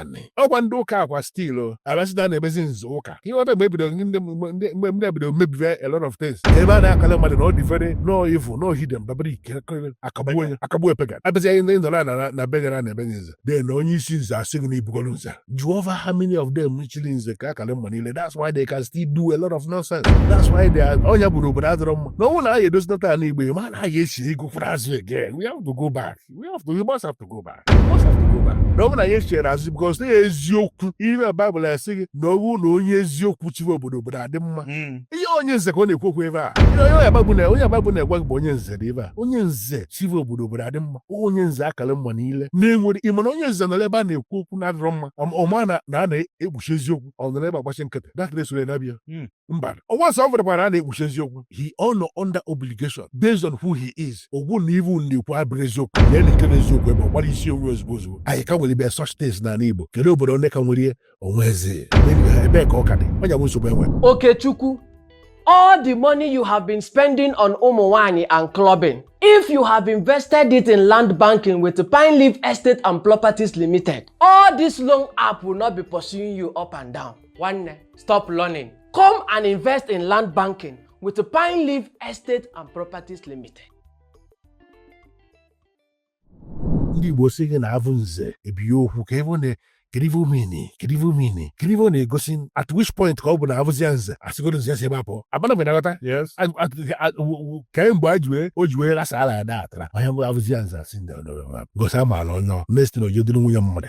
anị ọkwa ndị ụka akwa still abịazi na na-emezi nze ụka ihe ọta mgbe ebido ndị ndị- mgbe mgbe ndị ebido mebibe a lot of things ebe a na-akọla mmadụ na ọ devil na ọ evil na ọ heathen babara ike akagbuo onye akagbuo pagan abịazi anyị ndị nọrọ na na be gara na ebe nze de na onye isi nze asị gị na ibugoro nze jehova how many of them chiri nze ka a kara mma n'ile that's why they can still do a lot of nonsense that's why they are ọ nya bụ na obodo adịrọ mma na ọ wụ na anyị edozinata ala igbo ma na anyị esi ego kwara azụ again we have to go back we have to we must have to go back we must have to go back na ọ bụrụ na anyị chere azụ because na eziokwu ihe na baịbụl asị gị na ọ bụ na onye eziokwu chiwe obodo obodo adị mma hmm. ihe onye nze ka ọ na-ekwu okwu ebe a onye baịbụl na-egwa gị bụ onye nze dị ebe a onye nze chiwe obodo obodo adị mma onye nze a kara mma n'ile na-enwere ị ma na onye nze nọrọ ebe a na-ekwu okwu na-adịrọ mma ọ ma na a na-ekpuchi eziokwu ọ nọrọ ebe a gbachi nkịtị na-ekiri e soro ya na-abịa hmm. Mba, once ọ vụrụkwara a na-ekpuchi eziokwu. He ọ nọ under obligation based on who he is. Ọ gwa unu na ive unu na-ekwu abụrọ eziokwu. Ya na ike na eziokwu ebe ọ gbara isi onwe ozugbo ozugbo. Anyị ka nwere ibe such things n'ala Igbo. Kedu obodo anyị ka nwere onye nze? Ebee ka ọ ka dị? Ọ nya bụ nsogbu e nwe. Okechukwu, all the money you have been spending on ụmụ nwanyị and clubbing, if you have invested it in land banking with Pine Leaf Estate and Properties Limited, all this loan app will not be pursuing you up and down. nwanne stop learning come and invest in land banking with pine leaf estate and properties limited ndị igbo sị gị na avụ nze ebighị okwu ka ebe na kirivu mini kirivu mini kirivu na-egosi at which point ka ọ bụ na abụzia nze asịgoro nze si ebe apụ abana mgbe na-aghọta kemgbe a jiwe o ji wee lasa ala ya da atara ọ nya bụ abụzia nze asị ndị ọdọrọ gosi amaala onye mestin ojedịrị nwunye mmadụ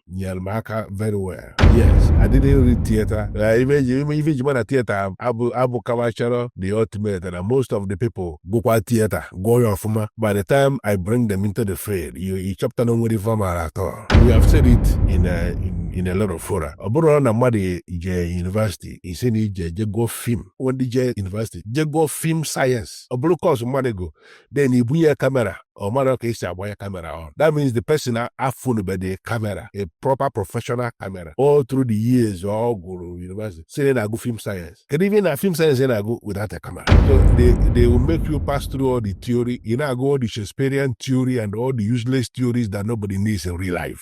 nyere m aka very well yes I didn't read theater ife e ji ma na theater abụkwacharọ the ultimate na most of the people gụkwa theater gụọ ya ọfụma by the time I bring them into the field ị chọpụta na o nwerọ ife ọ mara at all we have said it in a, in, in a lot of fora ọ bụrụ na mmadụ je university ị sị na ị je je gụọ film ndị je university je gụọ film science ọ bụrụ course mmadụ gụ then ị bunye ya camera ọ marọ ka e si agbanye camera on that means the person afụnubedị camera a proper professional camera all through the years ọ gụrụ university sị na ọ na-agụ film science kedu ife na film science na-agụ without a camera so they, they will make you pass through all the theory ị na-agụ all the Shakespearean theory and all the useless theories that nobody needs in real life